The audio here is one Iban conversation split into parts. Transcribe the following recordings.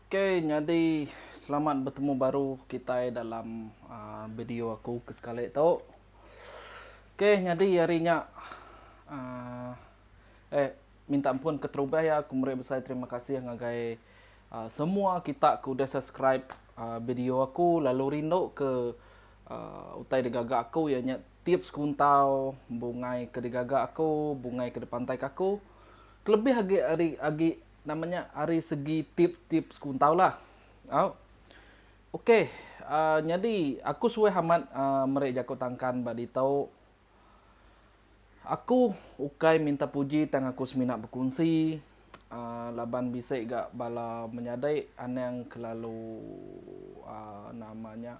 Okay nyadi selamat betemu baru kitai dalam video aku ke sekali tu. Okay nyadi hari nya uhh eh. Minta ampun keterubah ya aku meri besai terima kasih ngagai semua kita ke udah subscribe video aku lalu rindu ke utai digaga aku iya nya tips kuntau bungai ke digaga aku bungai ke dipantai ka aku kelebih agi ari agi nama nya ari segi tips-tips kuntau lah au ok nyadi aku suah amat meri jaku tangkan ba ditu. Aku ukai minta puji tang aku semina bekunsi laban bisi ga bala menyadi anang kelalu nama nya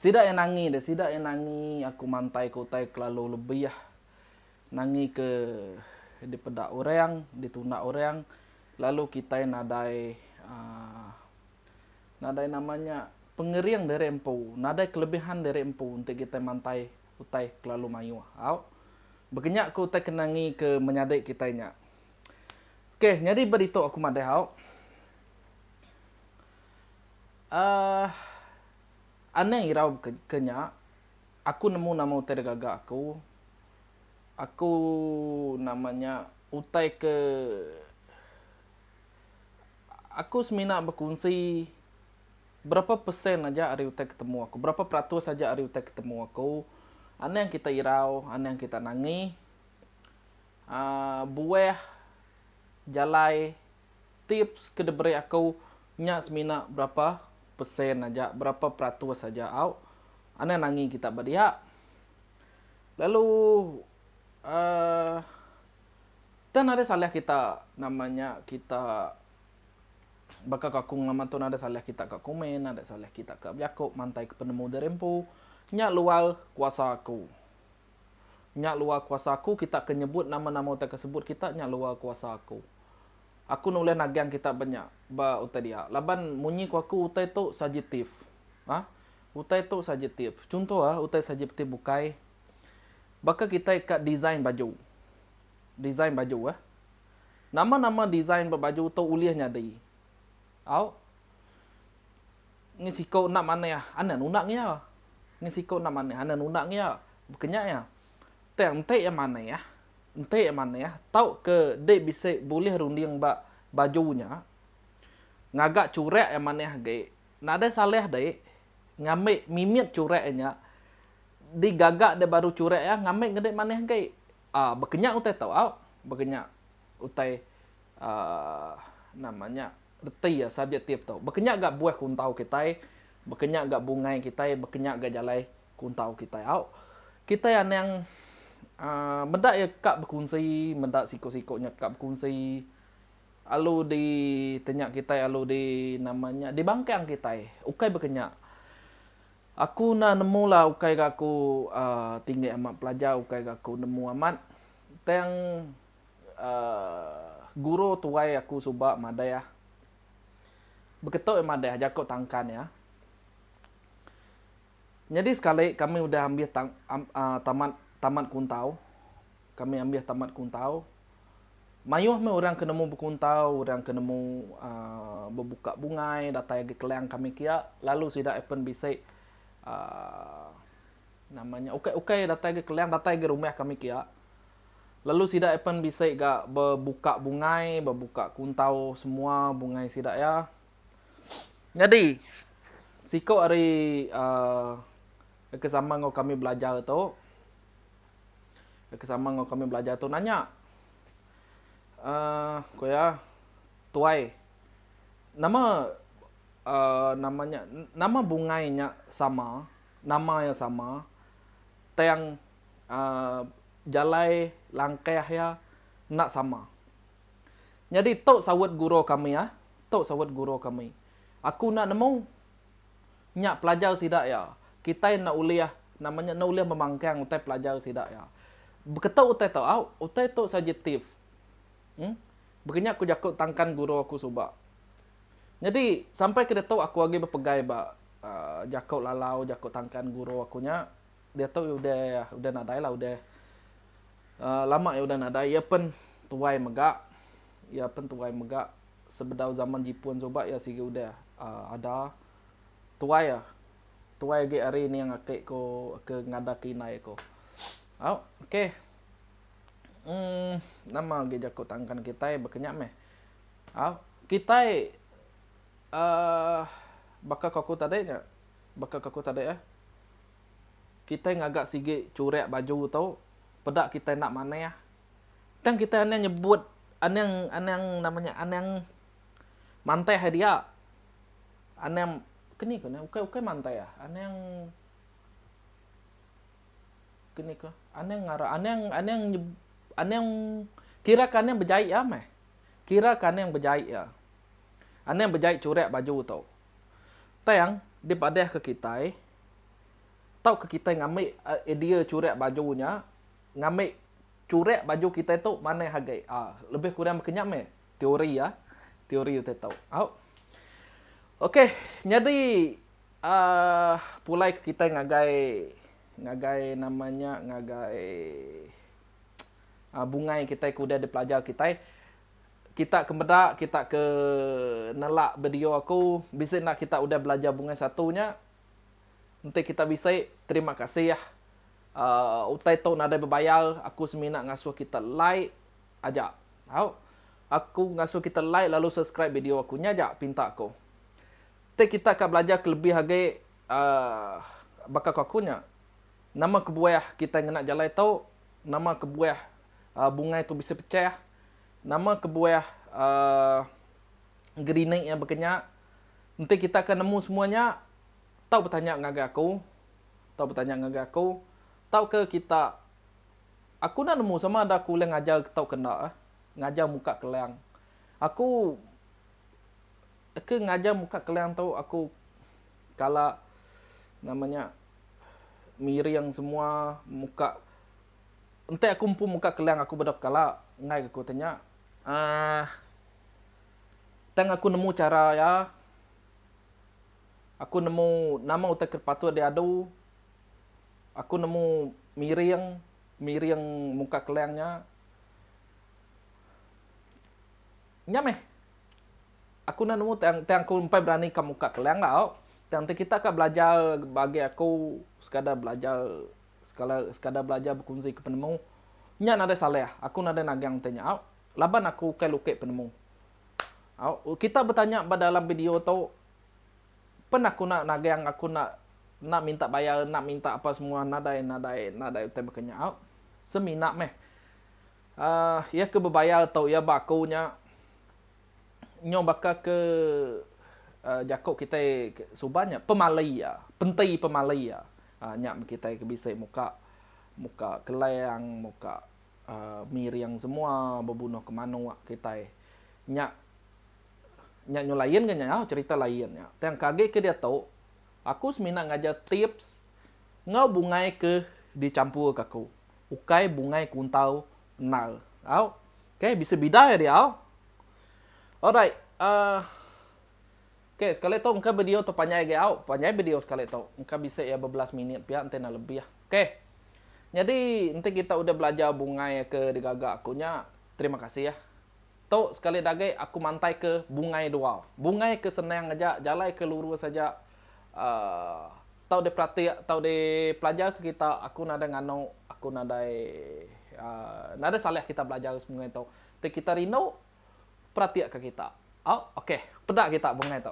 sida iya nangi deh sida iya nangi aku mantai ke utai kelalu lebih nangi ke dipeda orang ditunda orang lalu kitai nadai nadai nama nya pengering diri empu nadai kelebihan diri empu enti kitai mantai. utai kelalu mayuh au bekenya ke utai kenangi ke menyadi kitai nya. Ok nyadi ba ditu aku madah au uhh anang irau ke nya aku nemu nama utai da gaga aku, aku nama nya utai ke aku semina bekunsi. Berapa persen aja ari utai ke temu aku, berapa peratus aja ari utai ke temu aku, anang kita irau, anang kita nangi, aaa buah jalai tips ke diberi aku nya semina berapa persen aja, berapa peratus aja au anang nangi kita ba dia. Lalu aaa, tang nadai salah kita nama nya kita. Baka ko aku ngelamat tu nadai salah kita ka komen, nadai salah kita ka bejako mantai ke penemu diri empu. Nya luar kuasa aku. Nya luar kuasa aku kita ke nyebut nama-nama utai ke sebut kita nya luar kuasa aku. Aku nulih nagang kita ba nya, ba utai dia. Laban munyi ko aku utai tu sajiptif. Ha. Utai tu sajiptif. Chunto ah utai sajiptif bukai baka kitai ka design baju. Design baju ah. Nama-nama design ba baju tu ulih nyadi. Au. Ngi siku enda manah, anda nunda ngia. Ngi siku enda manah, anda nunda ngia. Bekenya iya. Tang enti iya manah, enti iya manah tauka dek bisi bulih runding ba baju nya ngaga churak iya manah agi, nadai salah dek ngambi mimit churak iya nya digaga dek baru churak iya ngambi ngedek manah agi. A. Baka nya utai tau au, baka nya utai aaa nama nya reti a subjektif tau. Baka nya ga buah kuntau kitai, baka nya ga bungai kitai, baka nya ga jalai kuntau kitai au. Kitai anang aaa meda iya ka bekunsi, meda siku-siku nya ka bekunsi alu di tenya kitai alu di nama nya di bangkang kitai. Ukai baka nya. Aku enda nemu lah ukai ga aku tinggi amat pelajar ukai ga aku nemu amat tang uhh guru tuai aku suba madahh beketuk iya madahh jaku tangkan iya nyadi sekali kami udah ambih tamat tamat kuntau. kami ambih tamat kuntau. Mayuh meh orang ke nemu bekuntau, orang ke nemu aaa bebuka bungai datai agi kelang kami kia lalu sida apen bisi aaa nama nya ukai-ukai datai agi kelang datai agi rumah kami kia lalu sida apen bisi ga bebuka bungai bebuka kuntau semua bungai sida iya. Nyadi siko ari aaa ke sama enggau kami belajar tu. ke sama enggau kami belajar tu nanya, Um ku iya, Tuai, nama Um nama nya, nama bungai nya sama, nama iya sama, tang Um jalai langkah iya enda sama. Nyadi tu saut guru kami ah, tu saut guru kami. Aku enda nemu. Nya pelajar sida iya. Kitai enda ulih, nama nya, enda ulih memangkang utai pelajar sida iya. Beketu utai tu, au, utai tu subjektif. Em. Baka nya ku jaku tangkan guru aku suba. Nyadi, sampai ke ditu aku agi bepegai ba aaa jaku lalau, jaku tangkan guru aku nya. Diatu iya udah, udah nadai lah, udah aaa lama iya udah nadai. Iya pen tuai mega, iya pen tuai mega. sebedau zaman Jipun suba iya sigi udah ada tuai tuai agi ari ning ake ko ke ngadak ke indai ko au oke um nama agi jaku tangkan kitai baka nya meh au kitai um baka ko aku tadi nya baka ko aku tadi eh kitai ngaga sigi churak baju tu peda kitai enda manah. Tang kitai anang nyebut anang anang nama nya anang mantai hari dia. Anang keni ku ne ukai ukai mantai ah anang keni ku anang ngara anang anang nyeb anang kira ke anang bejai iya meh. Kira ke anang bejai iya. Anang bejai churak baju tu. Tang dipadah ke kitai tauka kitai ngambi idea churak baju nya ngambi churik baju kitai tu manah agi. Aa lebih kurang baka nya meh teori aa teori utai tu. Au ok nyadi aa pulai ke kitai ngagai ngagai nama nya ngagai aa bungai kitai ke udah dipelajar kitai. Kita ke meda kita ke nelak video aku bisi enda kita udah belajar bungai satu nya enti kita bisi terima kasih. Aaa utai tu nadai bebayar aku semina ngasuh kita like aja tau aku ngasuh kita like lalu subscribe video aku nya aja pinta aku tei kita ka belajar ke lebih agi aaa baka ko aku nya nama kebuah kitai ngena jalai tu nama kebuah aaa bungai tu bisi pecah nama kebuah aaa gerinik iya baka nya enti kita ka nemu semua nya tau betanya ngagai aku. Tau betanya ngagai aku, tauka kita Aku enda nemu sama ada aku ulih ngajar tauka enda ngajar muka kelang. Aku ke ngajar muka kelang tu aku kala nama nya miring semua muka enti aku empu muka kelang aku beda pekala enggai ke aku ti nya uhh tang aku nemu chara iya. Aku nemu nama utai ke patut diadu. Aku nemu miring, miring muka kelang nya. Nya meh. Aku enda nemu tang tang aku empai beranika muka kelang tau. Tang ti kita ka belajar bagi aku sekadar belajar sekala sekadar belajar bekunzika penemu. Nya nadai salah, aku nadai nagang ti nya au. Laban aku ukai lukik penemu. Kita betanya ba dalam video tu pen aku nak nagang aku nak nak minta bayar nak minta apa semua nadai nadai nadai utai baka nya semina meh um iya ke bebayar tu iya ba aku nya nyau baka ke um jaku kitai suba nya pemali iya penti pemali iya um nya kitai ke bisi muka muka kelang muka miring semua bebunuh ke manok kitai nya nya nyu lain ke nya cerita lain nya tang ke agi ke diatu aku semina ngajar tips enggau bungai ke dicampur ke aku ukai bungai kuntau endar au ok bisi bida ya dia au alright uhh ok sekali tu engka video tu panjai agi au panjai video sekali tu engka bisi ya bebelas minit pia enti enda lebih. Ok. Nyadi enti kita udah belajar bungai ke digaga aku nya, terima kasih ya. Tu sekali dagi aku mantaika bungai dua. Bungai ke senang aja, jalai ke lurus aja uhh tau diperatik, tau dipelajar ke kita, aku nadai nganu, aku nadai uhh nadai salah kita belajar sebungai tu. Ti kita rindu peratikka kita. Au ok. Peda kita bungai tu.